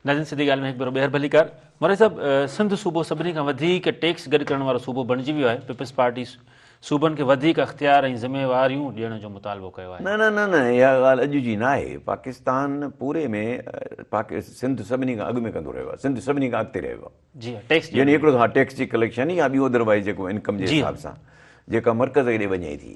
ناظرين سڌي ڳالهه ۾ هڪ ڀيرو ٻيهر ڀلي ڪار. مورائي صاحب سنڌ صوبو سڀني کان وڌيڪ ٽيڪس گڏ ڪرڻ وارو صوبو بڻجي ويو آهي پيپلز پارٽي صوبن کي وڌيڪ اختيار ۽ ذميواريون ڏيڻ جو مطالبو ڪيو آهي. نه نه نه نه اها ڳالهه اڄ جي ناهي پاڪستان پوري ۾ پاڪ سنڌ سڀني کان اڳ ۾ ڪندو رهيو آهي سنڌ سڀني کان اڳتي رهيو آهي. جي ها ٽيڪس ڏيڻ ۾. يعني هڪڙو ها ٽيڪس جي ڪليڪشن يا ٻيو اڌروائيز جيڪو انڪم جي حساب سان جيڪا مرڪز ڏي وڃي ٿي.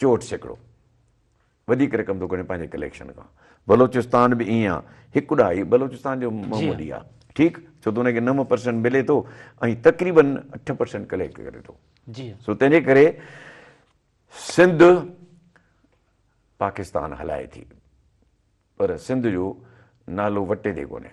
چوهٺ سيڪڙو وڌيڪ رقم ٿو ڳڻي پنهنجي ڪليڪشن کان بلوچستان به ائين آهي هڪ ڏهائي بلوچستان جو معمولي آهي ٺيڪ ڇو ته ان کي نو پرسنٽ ملي ٿو ۽ تقريبن اٺ پرسنٽ ڪليڪٽ ڪري ٿو سو تنهن جي ڪري سنڌ پاڪستان هلائي ٿي پر سنڌ جو نالو وٽي تي ڪونهي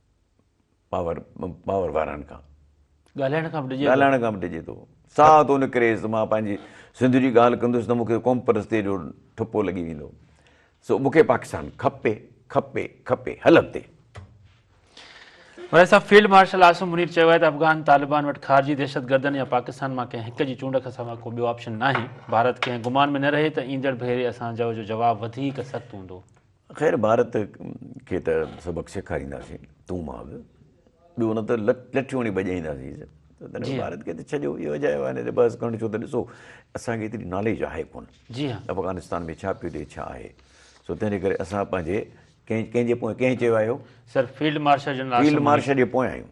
پاور پاور وارن کان ڳالهائڻ کان به ڊڄي ڳالهائڻ کان به ڊڄي ٿو ساهه ٿو نڪريس ته مان پنهنجي سنڌ جي ڳالهه ڪندس ته مون کي قوم پرستيء جو ٺپو لڳي ويندو سو مون کي پاڪستان کپي کپي کپي هل اڳتي. ملائي صاحب فيلڊ مارشل عاصم منير چيو آهي ته افغان طالبان وٽ خارجي دهشتگردن يا پاڪستان مان ڪنهن هڪ جي چونڊ کان سواء ڪو ٻيو آپشن ناهي ڀارت ڪنهن گمان ۾ نه رهي ته ايندڙ ڀيري اسان جو جو جواب وڌيڪ سخت هوندو خير ڀارت کي ته سبق سيکارينداسين تون مان به، ٻيو نه ته لٺيوڻي ڀڄائينداسين ته تنهن ڀارت کي ته ڇڏيو اهو اجايو آهي نه تي بحث ڪرڻ ڇو ته ڏسو اسان کي ايتري ناليج آهي ڪونه افغانستان ۾ ڇا پيو ٿئي ڇا آهي سو تنهنجي ڪري اسان پنهنجي ڪنهن ڪنهن جي پوئين ڪنهن چيو آهي اهو sir field marshal general Asif Munir field marshal جي پوئين آهيون.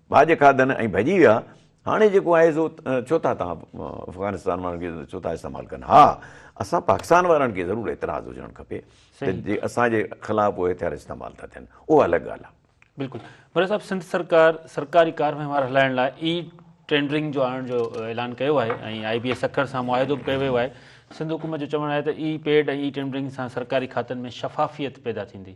ڀاڄ کاڌن ۽ ڀڄي ويا. هاڻي جيڪو آهي سو ڇو ٿا توهان افغانستان وارن کي ڇو ٿا استعمال ڪن. ها اسان پاڪستان وارن کي ضرور اعتراض هجڻ کپي ته جي اسان جي خلاف اهي هٿيار استعمال ٿا ٿين اهو الڳ ڳالهه آهي. بلڪل مير صاحب سنڌ سرڪار سرڪاري ڪار وهنوار هلائڻ لاء اي ٽينڊرنگ جو آڻڻ جو اعلان ڪيو آهي ۽ آئي بي اي سکر سان معاهدو به ڪيو ويو آهي سنڌ حڪومت جو چوڻ آهي ته اي پيڊ ۽ اي ٽينڊرنگ سان سرڪاري کاتن ۾ شفافيت پيدا ٿيندي.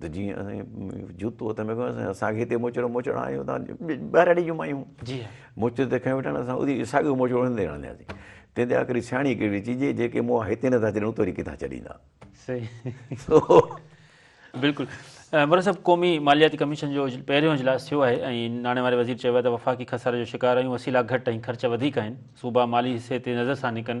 ته جيئن اسين جوتو هٿ ۾ کنيو اسين اسان کي هتي موچڙو موچڙا آيون تان ٻهراڙي جون مايون جي موچڙو ته کنيو ويٺا اسان اودي ساڳيو موچڙو هندي هڻندياسين تنهن تي آخري سياڻي ڪهڙي چي جي جيڪي موها هتي نه ٿا ڇڏين اتي وري ڪٿان ڇڏيندا صحيح بلڪل عمران صاحب قومي مالياتي ڪميشن جو پهريون اجلاس ٿيو آهي ۽ ناڻي واري وزير چيو آهي ته وفاقي خساري جو شڪار آهيون وسيلا گهٽ ۽ خرچ وڌيڪ آهن صوبا مالي حصي تي نظرثاني ڪن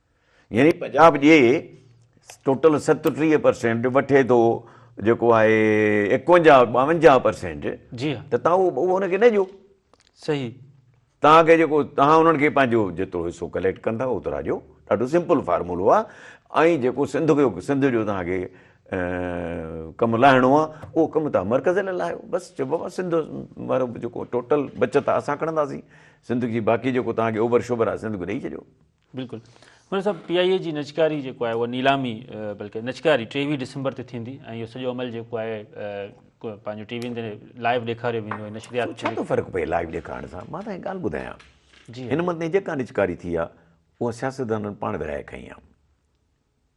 يعني پنجاب جي ٽوٽل ستٽيهه پرسينٽ وٺي ٿو جيڪو آهي ايڪونجاهه ٻاونجاهه پرسينٽ جي ها ته تون اهو ان کي نه ڏيو صحيح تان کي جيڪو تان انهن کي پنهنجو جيترو حصو ڪليڪٽ ڪندا اوترا ڏيو ڏاڍو سمپل فارمولو آهي ۽ جيڪو سنڌ جو سنڌ جو تان کي ڪم لاهڻو آهي اهو ڪم تان مرڪز لاء لاهيو بس چئبو بابا سنڌ وارو جيڪو ٽوٽل بچت آهي اسان کڻنداسين سنڌ جي باقي جيڪو تان کي اوڀر شوڀر آهي سنڌ کي ڏئي ڇڏيو بلڪل مير صاحب پي آء اي جي نجڪاري جيڪو آهي اها نيلامي بلڪه نجڪاري ٽيويهه ڊسمبر تي ٿيندي ۽ اهو سڄو عمل جيڪو آهي پنهنجو ٽي وين تي لائيو ڏيکاريو ويندو ۽ نشريات ڇا ٿو فرق پئي لائيو ڏيکارڻ سان مان تنهنکي ڳالهه ٻڌايان جي هن مدني جيڪا نجڪاري ٿي آهي اها سياستدانن پاڻ ورهائي کنئي آهي.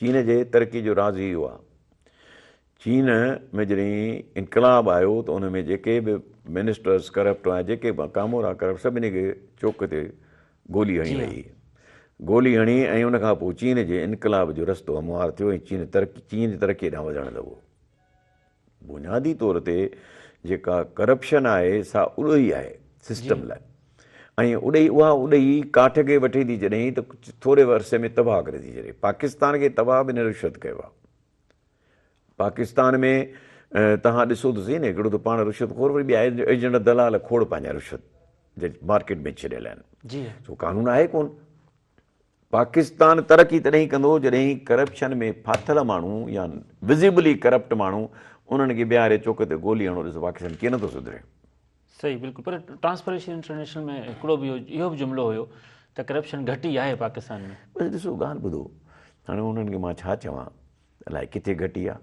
چين جي ترقي جو راز ئي اهو آهي. چين ۾ جڏهن انقلاب آيو ته ان ۾ جيڪي به منسٽرز ڪرپٽ هئا جيڪي به ڪامورا ڪرپٽ سڀني کي چوڪ تي گولي هڻي وئي هئي. گولي هڻي ۽ ان کان پوء چين جي انقلاب جو رستو هموار ٿيو ۽ چين چين ترقي ڏانهن وڌڻ لڳو. بنيادي طور تي جيڪا ڪرپشن آهي سا اڏوهي آهي سسٽم لاء ۽ اڏوهي اها اڏوهي ڪاٺ کي وٺي ٿي ڇڏي ته ٿوري عرصي ۾ تباهه ڪري ٿي ڇڏي پاڪستان کي تباهه به هن رشوت ڪيو آهي پاڪستان ۾ توهان ڏسو ته صحيح نه هڪڙو ته پاڻ رشوت خور وري ٻيا ايجنٽ دلال کوڙ پنهنجا رشوت جي مارڪيٽ ۾ ڇڏيل آهن سو قانون آهي ڪون پاڪستان ترقي تڏهن ئي ڪندو جڏهن ڪرپشن ۾ ڦاٿل ماڻهو يا وزيبلي ڪرپٽ ماڻهو انهن کي بيهاري چوڪ تي گولي هڻو ڏس پاڪستان ڪيئن نٿو سڌري. صحيح بلڪل پر ٽرانسپريشن انٽرنيشنل ۾ هڪڙو به اهو به جملو هيو ته ڪرپشن گهٽ ئي آهي پاڪستان ۾. بس ڏسو ڳالهه ٻڌو هاڻي انهن کي مان ڇا چوان الائي ڪٿي گهٽ ئي آهي.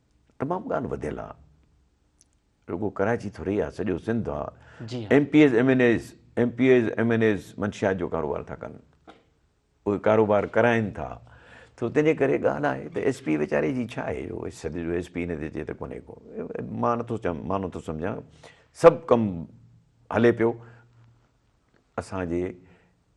تمام ڳالهه وڌيل آ رڳو ڪراچي ٿوري آ سڄو سنڌ آ M P As M N As M P As M N As منشيات جو ڪاروبار ٿا ڪن اهي ڪاروبار ڪرائين ٿا تو تنهنجي ڪري ڳالهه آهي ته ايس پي ويچاري جي ڇا آهي جو سڄي جو ايس پي هن تي چي ته ڪونهي ڪو مان نٿو چم مان نٿو سمجهان سڀ ڪم هلي پيو اسان جي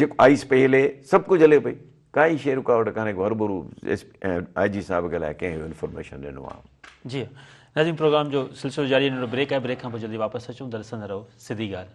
جيڪو آئيس پئي هلي سڀ ڪجهه هلي پئي ڪائي شي رڪاوٽ ڪانهي ڪو هربرو ايس آئي جي صاحب کي الائي ڪنهن اهو انفارميشن ڏنو آ. جي ناظرين پروگرام جو سلسلو جاري ننڍڙو بريڪ آهي بريڪ کان پوء جلدي واپس اچون درسن رهو سڌي ڳالهه.